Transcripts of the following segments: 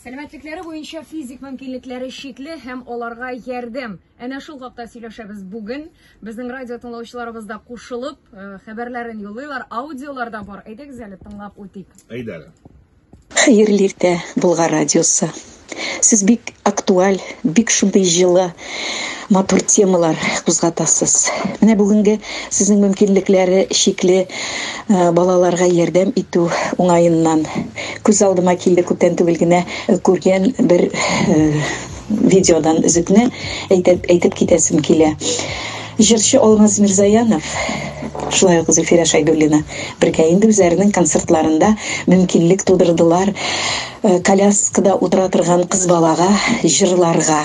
Сәламәтлекләре буенча физик мөмкинлекләре чикле һәм аларга ярдәм. Әнә шул хакта сөйләшәбез бүген. Безнең радио тыңлаучыларыбыз да кушылып, э, хәбәрләрен юллыйлар, аудиолар да бар. Әйдәгез әле тыңлап үтик. Әйдәгез. Хәерле иртә, Болгар радиосы. Сез бик актуаль, бик шундый җылы матур темалар кузгатасыз. Менә бүгенге сезнең мөмкинлекләре чикле э, балаларга ярдәм итү уңаеннан күз алдыма килде күптән түгел генә э, күргән бер э, видеодан өзекне әйтеп, әйтеп китәсем килә. Җырчы Алмаз Мирзаянов шулай ук Зөлфирә Шайдуллина бергә инде үзләренең концертларында мөмкинлек тудырдылар коляскада утыра торган кыз балага җырларга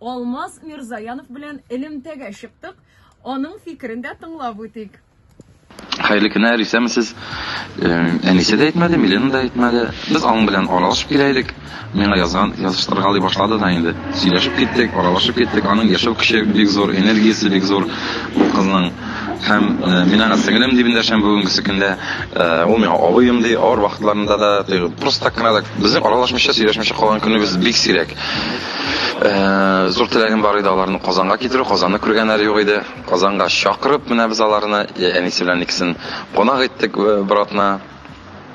Алмаз Мирзаянов белән элемтәгә чыктык, аның фикерен дә тыңлап үтик. Хәерле көннәр, исәнмесез. Әнисе дә әйтмәде, Милена да әйтмәде. Без аның белән аралашып килә идек. Миңа язган, языштыргалый башлады да инде. Сөйләшеп киттек, аралашып киттек. Аның яшәү көче бик зур, энергиясе бик зур бу кызның. Һәм мин аңа сеңелем дип эндәшәм бүгенге көндә. Ул миңа абыем ди, авыр вакытларында да, просто так кына да. Безнең аралашмыйча, сөйләшмичә калган көнебез бик сирәк. Э, зур теләгем бар иде аларны Казанга китерү, Казанны күргәннәре юк иде. Казанга чакырып, менә без аларны э, әнисе белән икесен кунак иттек э, бер атна.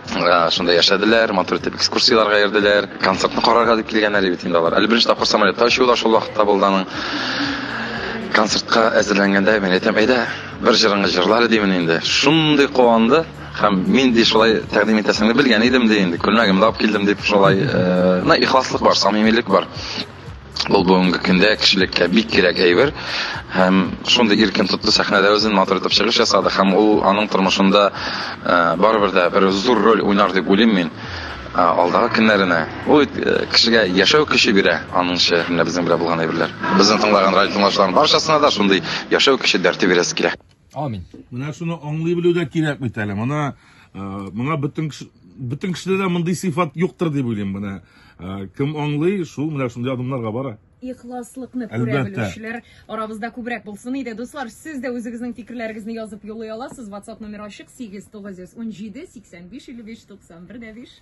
Шунда яшәделәр, матур итеп экскурсияләргә йөрделәр. Концертны карарга дип килгәннәр бит инде алар. Әле беренче тапкыр самолетта очу да шул вакытта булды аның. Концертка әзерләнгәндә мин әйтәм, әйдә, бер җырыңны җырлар димени инде. Шундый куанды. Һәм мин ди шулай тәкъдим итәсеңне белгән идем ди инде. Күлмәгемне алып килдем дип шулай, э, на ихласлык бар, самимилек бар. Ул бүгенге көндә кешелеккә бик кирәк әйбер. Һәм шундый иркен тотты сәхнәдә үзен матур итеп чыгыш ясады һәм ул аның тормышында э, барыбер дә бер зур роль уйнар дип уйлыйм мин э, алдагы көннәренә. Ул э, кешегә яшәү көче бирә, аның шигырендә безнең белән булган әйберләр. Безне тыңлаган радио тыңлаучыларның барчасына да шундый яшәү көче дәрте бирәсе килә. Амин. Менә шуны аңлый белү дә кирәк бит әле. Моны моңа бөтен бөтен кешедә дә мондый сыйфат юктыр дип уйлыйм. Менә кем аңлый, шул менә шундый адымнарга бара. Ихласлыкны күрә белүчеләр арабызда күбрәк булсын иде. Дуслар, сез дә үзегезнең фикерләрегезне язып юллый аласыз. WhatsApp номер ачык 8917 85 55 91 5.